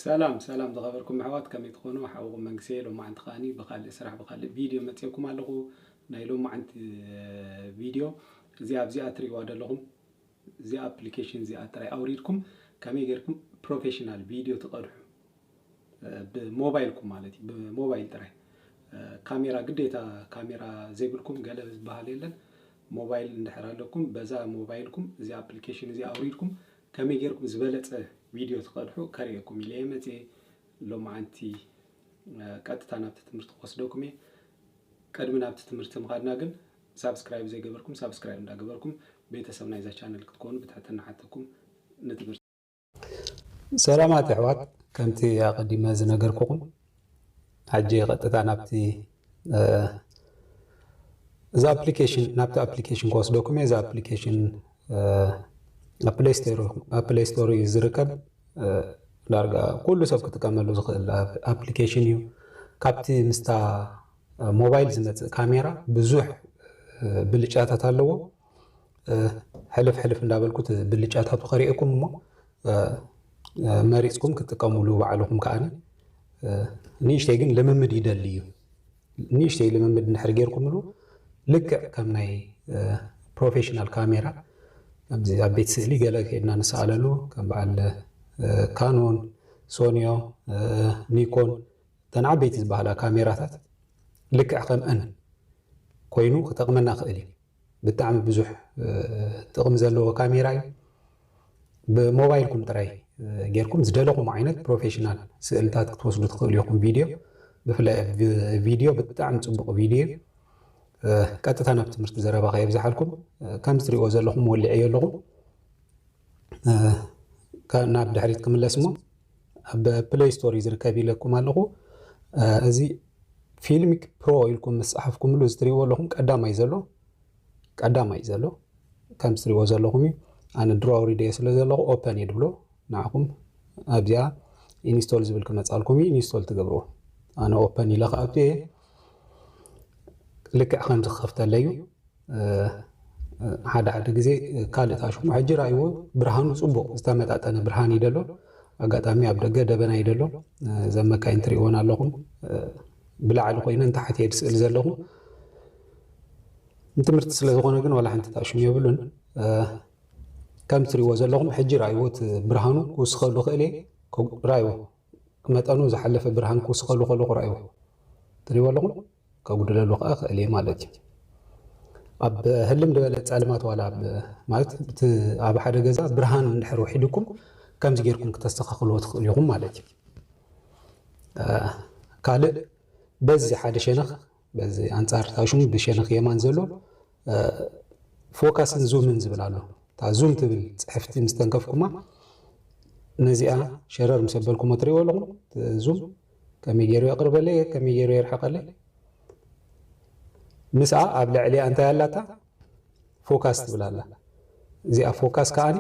ሰላም ሰላም ዝኸበርኩም ኣሕዋት ከመይ ትኾኑ? ሓውኹም መንግስየ ሎማዓንቲ ከዓኒ ብኻልእ ስራሕ ብኻልእ ቪድዮ መፂኦኩም ኣለኹ። ናይ ሎማዓንቲ ቪድዮ እዚኣ ኣብዚኣ ትሪእዋ ዘለኹም እዚኣ ኣፕሊኬሽን እዚኣ ጥራይ ኣውሪድኩም ከመይ ጌርኩም ፕሮፌሽናል ቪድዮ ትቐድሑ ብሞባይልኩም ማለት እዩ ብሞባይል ጥራይ ካሜራ ግዴታ ካሜራ ዘይብልኩም ገለ ዝበሃል የለን። ሞባይል እንድሕር ኣለኩም በዛ ሞባይልኩም እዚ ኣፕሊኬሽን እዚ ኣውሪድኩም ከመይ ጌርኩም ዝበለጸ ቪድዮ ትቀድሑ ከርእየኩም ኢለየ መጽየ ሎምዓንቲ ቀጥታ ናብቲ ትምህርቲ ክወስደኩም እየ ቅድሚ ናብቲ ትምህርቲ ምኻድና ግን ሳብስክራይብ ዘይገበርኩም ሳብስክራይብ እንዳገበርኩም ቤተሰብ ናይዛ ቻነል ክትኮኑ ብትሕትና ሓተኩም ንትምህርቲ ሰላማት የሕዋት ከምቲ ኣቀዲመ ዝነገርኩኹም ሕጂ ቀጥታ ናብቲ እዛ ኣፕሊኬሽን ናብቲ ኣፕሊኬሽን ክወስደኩም እየ። እዛ ኣፕሊኬሽን ኣብ ፕሌይ ስቶር እዩ ዝርከብ። ዳርጋ ኩሉ ሰብ ክጥቀመሉ ዝኽእል ኣፕሊኬሽን እዩ ካብቲ ምስታ ሞባይል ዝመፅእ ካሜራ ብዙሕ ብልጫታት ኣለዎ ሕልፍ ሕልፍ እንዳበልኩ ብልጫታቱ ከሪኤኩም እሞ መሪፅኩም ክትጥቀሙሉ ባዕልኹም ከዓኒ ንእሽተይ ግን ልምምድ ይደሊ እዩ ንእሽተይ ልምምድ እንድሕር ጌርኩምሉ ልክዕ ከም ናይ ፕሮፌሽናል ካሜራ ኣብዚ ኣብ ቤት ስእሊ ገለ ከድና ንሰኣለሉ ከም በዓል ካኖን ሶኒዮ ኒኮን እተን ዓበይቲ ዝበሃላ ካሜራታት ልክዕ ከምአን ኮይኑ ክጠቕመና ክእል እዩ ብጣዕሚ ብዙሕ ጥቕሚ ዘለዎ ካሜራ እዩ። ብሞባይልኩም ጥራይ ጌርኩም ዝደለኹም ዓይነት ፕሮፌሽናል ስእልታት ክትወስዱ ትኽእሉ ኢኹም። ቪድዮ ብፍላይ ቪድዮ ብጣዕሚ ጽቡቕ ቪድዮ እዩ። ቀጥታ ናብ ትምህርቲ ዘረባ ከየብዝሓልኩም ከም ዝትሪእዎ ዘለኹም ወሊዐዮ ኣለኹ። ናብ ድሕሪት ክምለስ እሞ ኣብ ፕለይ ስቶር እዩ ዝርከብ ኢለኩም ኣለኹ። እዚ ፊልሚክ ፕሮ ኢልኩም ምስ ጸሓፍኩምሉ እዚ ትሪእዎ ኣለኹም ቀዳማይ ዘሎ ቀዳማይ ዘሎ ከም ትሪእዎ ዘለኹም እዩ። ኣነ ድሮ ኣውሪደዮ ስለ ዘለኹ ኦፐን እየ ድብሎ ንዓኹም ኣብዚኣ ኢንስቶል ዝብል ክመጻልኩም እዩ ኢንስቶል ትገብርዎ ኣነ ኦፐን ኢለ ክኣቱ እየ ልክዕ ከምዚ ክኸፍተለይ እዩ ሓደ ሓደ ግዜ ካልእ ታሽሙ ሕጂ ርኣይዎ ብርሃኑ ጽቡቕ ዝተመጣጠነ ብርሃን እዩ ደሎ ኣጋጣሚ ኣብ ደገ ደበና እዩ ደሎ እዘን መካይን ትርእይወን ኣለኹም ብላዕሊ ኮይነን ታሕቲ የድ ስእሊ ዘለኹ ንትምህርቲ ስለ ዝኾነ ግን ዋላ ሓንቲ ታሽሙ የብሉን ከም ትርእይዎ ዘለኹም ሕጂ ርኣይዎ እቲ ብርሃኑ ክውስኸሉ ክእል እየ ርኣይዎ መጠኑ ዝሓለፈ ብርሃን ክውስኸሉ ከለኹ ርኣይዎ ትርእይዎ ኣለኹም ከጉድለሉ ከዓ ክእል እየ ማለት እዩ ኣብ ህልም ዝበለ ጸልማት ዋላ ማለት እቲ ኣብ ሓደ ገዛ ብርሃን እንድሕር ውሒድኩም ከምዚ ጌርኩም ክተስተኻኽልዎ ትኽእሉ ኢኹም ማለት እዩ ካልእ በዚ ሓደ ሸነኽ በዚ ኣንጻር ታሹም ብሸነኽ የማን ዘሎ ፎካስን ዙምን ዝብል ኣሎ እታ ዙም ትብል ጽሕፍቲ ምስ ተንከፍኩማ ነዚኣ ሸረር ምስ ኣበልኩሞ ትሪእዎ ኣለኹም ዙም ከመይ ገይሩ የቕርበለይ ከመይ ገይሩ የርሕቐለይ ምስኣ ኣብ ልዕሊኣ እንታይ ኣላታ ፎካስ ትብል ኣላ እዚኣ ፎካስ ከዓኒ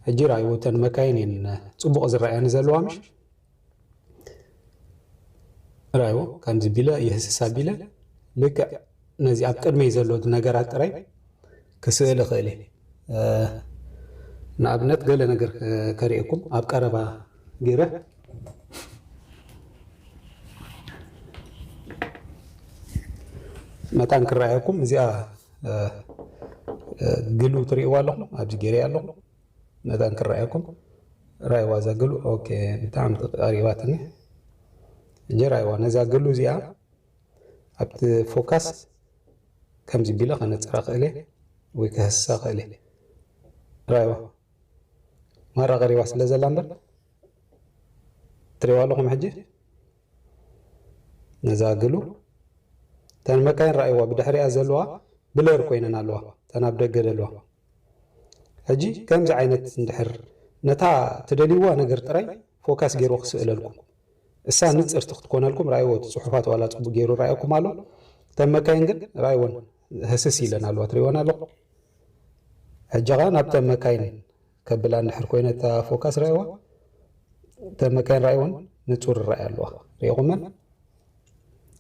ሕጂ ራእይዎ እተን መካይን እየን ፅቡቕ ዝረኣያኒ ዘለዋ ምሽ ራእይዎ ከምዚ ቢለ የህስሳ ቢለ ልክዕ ነዚ ኣብ ቅድመይ ዘሎ ነገራት ጥራይ ክስእል እኽእል እየ። ንኣብነት ገለ ነገር ከርእየኩም ኣብ ቀረባ ገይረ መታን ክረኣየኩም እዚኣ ግሉ ትርእይዋ ኣለኹም ኣብዚ ገይረያ ኣለኹ መታን ክረኣየኩም ራይዋ እዛ ግሉ ኦኬ ብጣዕሚ ቀሪባትኒ እጀ ራይዋ ነዛ ግሉ እዚኣ ኣብቲ ፎካስ ከምዚ ቢለ ከነጽራ ክእልየ ወይ ከህስሳ ክእልየ ራይዋ ማራ ቀሪባ ስለ ዘላ እምበር ትሪዋ ኣለኹም ሕጂ ነዛ ግሉ እተን መካይን ራይዋ ብድሕሪኣ ዘለዋ ብለር ኮይነን ኣለዋ እተን ኣብ ደገ ዘለዋ ሕጂ ከምዚ ዓይነት እንድሕር ነታ ትደልይዋ ነገር ጥራይ ፎካስ ገይሩ ክስእለልኩም እሳ ንጽርቲ ክትኮነልኩም ራኣይዎ እቲ ጽሑፋት ዋላ ጽቡቅ ጌሩ ራኣኩም ኣሎ እተን መካይን ግን ራኣይወን ህስስ ኢለን ኣለዋ ትሪእወን ኣለኹም ሕጂ ከኣ ናብተን መካይን ከብላ እንድሕር ኮይነ እታ ፎካስ ራኣይዋ እተን መካይን ራኣይወን ንጹር ራኣይ ኣለዋ ሪኢኹመን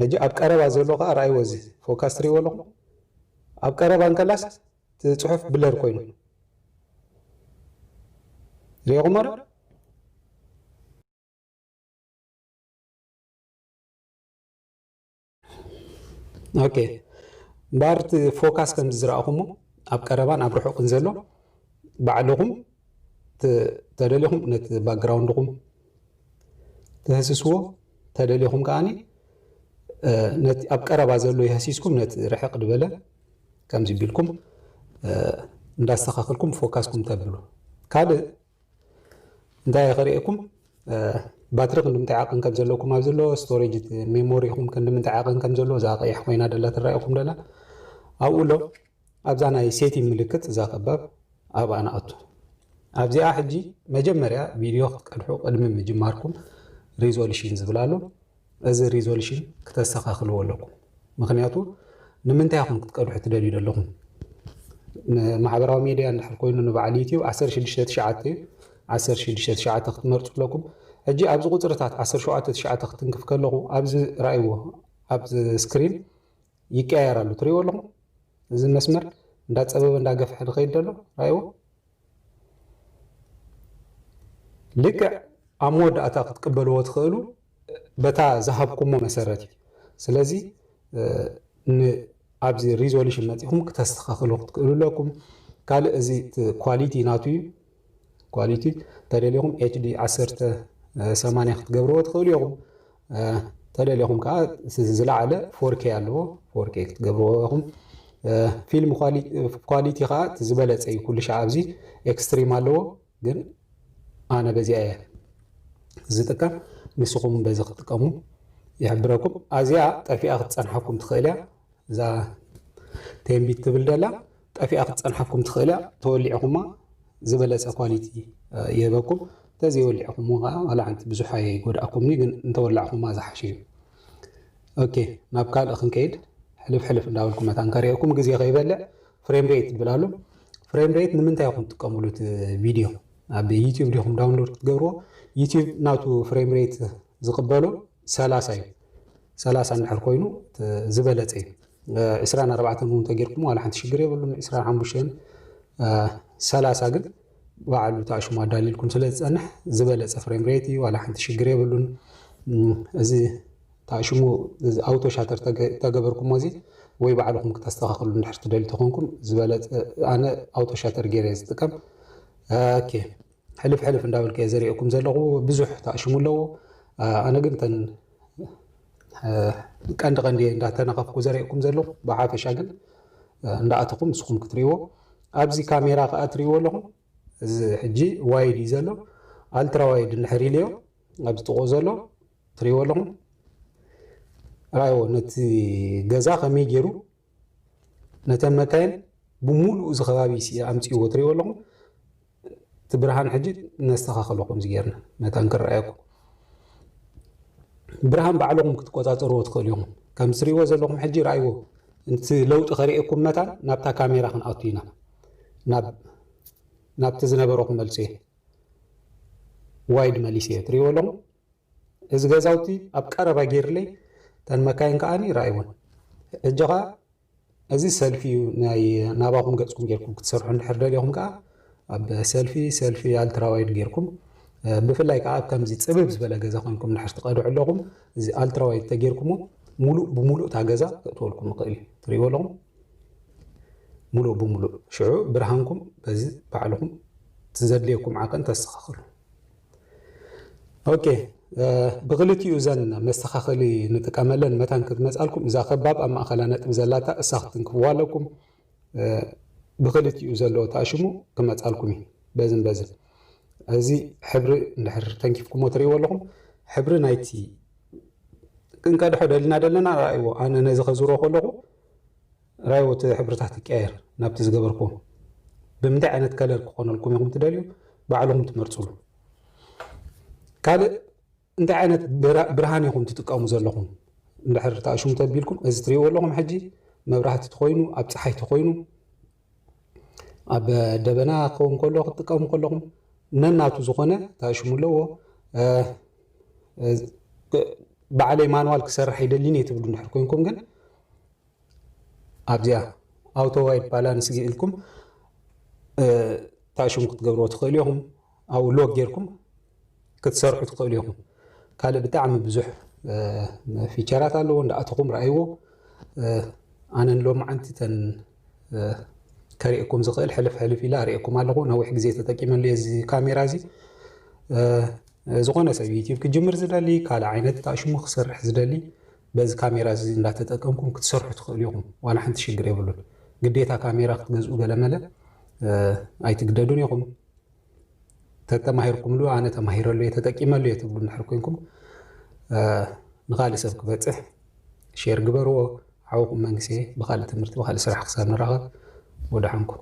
ሕጂ ኣብ ቀረባ ዘሎ ከኣ ራኣይዎ እዚ ፎካስ ትሪእዎ ኣለኹም ኣብ ቀረባ እንከላስ ጽሑፍ ብለር ኮይኑ ሪኢኹሞ ዶ ኦኬ እምበኣር እቲ ፎካስ ከምዚ ዝረኣኹሞ ኣብ ቀረባን ኣብ ርሑቕን ዘሎ ባዕልኹም ተደሊኹም ነቲ ባክግራውንድኹም ትህስስዎ ተደሊኹም ከዓኒ ነቲ ኣብ ቀረባ ዘሎ የህሲስኩም ነቲ ርሕቕ ድበለ ከምዚ ቢልኩም እንዳስተኻኸልኩም ፎካስኩም ተብሉ ካልእ እንታይ እየ ከርእየኩም ባትሪ ክንዲምታይ ዓቐን ከም ዘለኩም ኣብ ዘሎ ስቶሬጅ ሜሞሪኹም ክንዲምንታይ ዓቐን ከም ዘሎ እዛ ቀያሕ ኮይና ደላ ትረኣየኹም ደላ ኣብኡ ኣሎ ኣብዛ ናይ ሴቲ ምልክት እዛ ከባብ ኣብኣ ንኣቱ ኣብዚኣ ሕጂ መጀመርያ ቪድዮ ክትቀድሑ ቅድሚ ምጅማርኩም ሪዞሉሽን ዝብላ ኣሎ እዚ ሪዞልሽን ክተስተኻኽልዎ ኣለኩም ምክንያቱ ንምንታይ ኢኹም ክትቀድሑ ትደልዩ ዘለኹም ንማሕበራዊ ሜድያ እንድሕር ኮይኑ ንበዓል ዩትዩብ 16 ትሽዓተ እዩ 16 ትሽዓተ ክትመርፁ ኣለኩም ሕጂ ኣብዚ ቁፅርታት 17 ትሽዓተ ክትንክፍ ከለኹ ኣብዚ ራእይዎ ኣብዚ ስክሪን ይቀያየር ኣሎ ትሪእዎ ኣለኹም እዚ መስመር እንዳፀበበ እንዳገፍሐ ድኸይድ ደሎ ራእይዎ ልክዕ ኣብ መወዳእታ ክትቅበልዎ ትኽእሉ በታ ዝሃብኩሞ መሰረት እዩ ስለዚ ንኣብዚ ሪዞሉሽን መፂኹም ክተስተኻኽሉ ክትክእሉ ኣለኩም ካልእ እዚ ኳሊቲ ናቱ እዩ ኳሊቲ ተደሊኹም ኤችዲ ዓሰርተ ሰማንያ ክትገብርዎ ትኽእሉ ኢኹም ተደሊኹም ከዓ ዝለዓለ ፎርኬ ኣለዎ ፎርኬ ክትገብርዎ ኢኹም ፊልም ኳሊቲ ከዓ ዝበለፀ እዩ ኩሉ ሻዕ ኣብዚ ኤክስትሪም ኣለዎ ግን ኣነ በዚኣ እየ ዝጥቀም ንስኹም በዚ ክትጥቀሙ ይሕብረኩም ኣዚኣ ጠፊኣ ክትፀንሓኩም ትኽእል እያ እዛ ቴንቢት ትብል ደላ ጠፊኣ ክትጸንሓኩም ትኽእል እያ ተወሊዕኹማ ዝበለጸ ኳሊቲ ይህበኩም ተዘይወሊዕኹም ከዓ ዋላ ሓንቲ ብዙሕ ኣይጎድኣኩምኒ ግን እንተወላዕኹማ ዝሓሸ እዩ ኦኬ ናብ ካልእ ክንከይድ ሕልፍ ሕልፍ እንዳበልኩም መታን ከሪኦኩም ግዜ ከይበልዕ ፍሬም ሬት ትብል ኣሎ ፍሬም ሬት ንምንታይ ኢኹም ትጥቀምሉ እቲ ቪድዮ ኣብ ዩቲዩብ ዲኹም ዳውንሎድ ክትገብርዎ ዩቲዩብ ናቱ ፍሬም ሬት ዝቕበሎ ሰላሳ እዩ ሰላሳ እንድሕር ኮይኑ ዝበለፀ እዩ ዕስራን ኣርባዕተን እውን ተጌርኩም ዋላ ሓንቲ ሽግር የብሉን ዕስራን ሓሙሽተን ሰላሳ ግን በዓሉ ተኣሽሙ ኣዳሊልኩም ስለ ዝፀንሕ ዝበለፀ ፍሬም ሬት እዩ ዋላ ሓንቲ ሽግር የብሉን እዚ ተኣሽሙ ኣውቶ ሻተር ተገበርኩሞ እዚ ወይ ባዕልኹም ክተስተኻኽሉ እንድሕር ትደልዩ ተኾንኩም ዝበለፀ ኣነ ኣውቶ ሻተር ገይረ ዝጥቀም ኦኬ ሕልፍ ሕልፍ እንዳበልከ እየ ዘርእየኩም ዘለኹ ብዙሕ ተኣሽሙ ኣለዎ ኣነ ግን ተን ቀንዲ ቀንዲ እየ እንዳተነኸፍኩ ዘርእየኩም ዘለኹ ብሓፈሻ ግን እንዳኣተኹም ንስኹም ክትሪእዎ ኣብዚ ካሜራ ከዓ ትሪእዎ ኣለኹም እዚ ሕጂ ዋይድ እዩ ዘሎ ኣልትራ ዋይድ እንድሕር ኢልዮ ኣብዚ ጥቑ ዘሎ ትሪእዎ ኣለኹም ራይዎ ነቲ ገዛ ከመይ ገይሩ ነተን መካይን ብሙሉኡ እዚ ከባቢ ሲ ኣምጽእዎ ትሪእዎ ኣለኹም እቲ ብርሃን ሕጂ ነስተኻኽሎ ከምዚ ጌርና መታን ክረኣየኩም ብርሃን ባዕልኹም ክትቆጻጸርዎ ትኽእሉ ኢኹም ከም ትሪእዎ ዘለኹም ሕጂ ረኣይዎ እቲ ለውጢ ከርእየኩም መታን ናብታ ካሜራ ክንኣቱ ኢና ናብ ናብቲ ዝነበሮ ክመልሶ እየ ዋይድ መሊሰ እየ ትሪእዎ ኣለኹም እዚ ገዛውቲ ኣብ ቀረባ ጌርለይ እተን መካይን ከኣ ረኣይወን ሕጂ ከኣ እዚ ሰልፊ እዩ ናይ ናባኹም ገጽኩም ጌርኩም ክትሰርሑ እንድሕር ደሊኹም ከኣ ኣብ ሰልፊ ሰልፊ ኣልትራ ዋይድ ጌርኩም ብፍላይ ከኣ ኣብ ከምዚ ጽብብ ዝበለ ገዛ ኮንኩም እንድሕር ትቀድዑ ኣለኹም እዚ ኣልትራ ዋይድ ተጌርኩሞ ሙሉእ ብሙሉእ እታ ገዛ ክእትወልኩም ይኽእል እዩ ትርእይዎ ኣለኹም ሙሉእ ብሙሉእ ሽዑ ብርሃንኩም በዚ ባዕልኹም ዘድልየኩም ዓቀን ተስተኻኽሉ ኦኬ ብክልቲኡ እዘን መስተኻኸሊ ንጥቀመለን መታን ክትመጻልኩም እዛ ከባብ ኣብ ማእኸላ ነጥቢ ዘላታ እሳ ክትንክብዋ ኣለኩም ብክልቲኡ ዘለዎ ተኣሽሙ ክመጻልኩም እዩ በዝን በዝን እዚ ሕብሪ እንድሕር ተንኪፍኩሞ ትርእይዎ ኣለኹም ሕብሪ ናይቲ ክንቀድሖ ደልና ደለና ርኣይዎ ኣነ ነዚ ከዝሮ ከለኹ ራይዎት ሕብርታት ይቀያየር ናብቲ ዝገበርክዎ ብምንታይ ዓይነት ከለር ክኾነልኩም ኢኹም ትደልዩ ባዕልኹም ትመርጽሉ ካልእ እንታይ ዓይነት ብርሃን ኢኹም ትጥቀሙ ዘለኹም እንድሕር ተኣሽሙ ተቢልኩም እዚ ትሪእዎ ኣለኹም ሕጂ መብራህቲ ትኾይኑ ኣብ ፀሓይ ትኾይኑ ኣብ ደበና ክኸውን ከሎ ክትጥቀሙ ከለኹም ነናቱ ዝኾነ ታሽሙ ኣለዎ በዓለይ ማንዋል ክሰርሕ ኣይደሊን እየ ትብሉ እንድሕር ኮንኩም ግን ኣብዚኣ ኣውቶ ዋይት ባላንስ ገይልኩም ታሽን ክትገብርዎ ትኽእሉ ኢኹም ኣብኡ ሎግ ጌርኩም ክትሰርሑ ትኽእሉ ኢኹም ካልእ ብጣዕሚ ብዙሕ ፊቸራት ኣለዎ እንዳኣተኹም ረኣይዎ ኣነ ሎማዓንቲ ተን ከርእየኩም ዝኽእል ሕልፍ ሕልፍ ኢላ ኣርእየኩም ኣለኹ ነዊሕ ግዜ ተጠቂመሉ እዚ ካሜራ እዚ ዝኾነ ሰብ ዩቲብ ክጅምር ዝደሊ ካልእ ዓይነት ታሽሙ ክሰርሕ ዝደሊ በዚ ካሜራ እዚ እንዳተጠቀምኩም ክትሰርሑ ትኽእሉ ኢኹም ዋላ ሓንቲ ሽግር የብሉን ግዴታ ካሜራ ክትገዝኡ ገለመለ ኣይትግደዱን ኢኹም ተተማሂርኩምሉ ኣነ ተማሂረሉ እየ ተጠቂመሉ እየ ትብሉ እንድሕር ኮንኩም ንኻልእ ሰብ ክበፅሕ ሼር ግበርዎ ሓውኹም መንግስቲ ብኻልእ ትምህርቲ ብኻልእ ስራሕ ክሳብ ንራኸብ ወደሓንኩም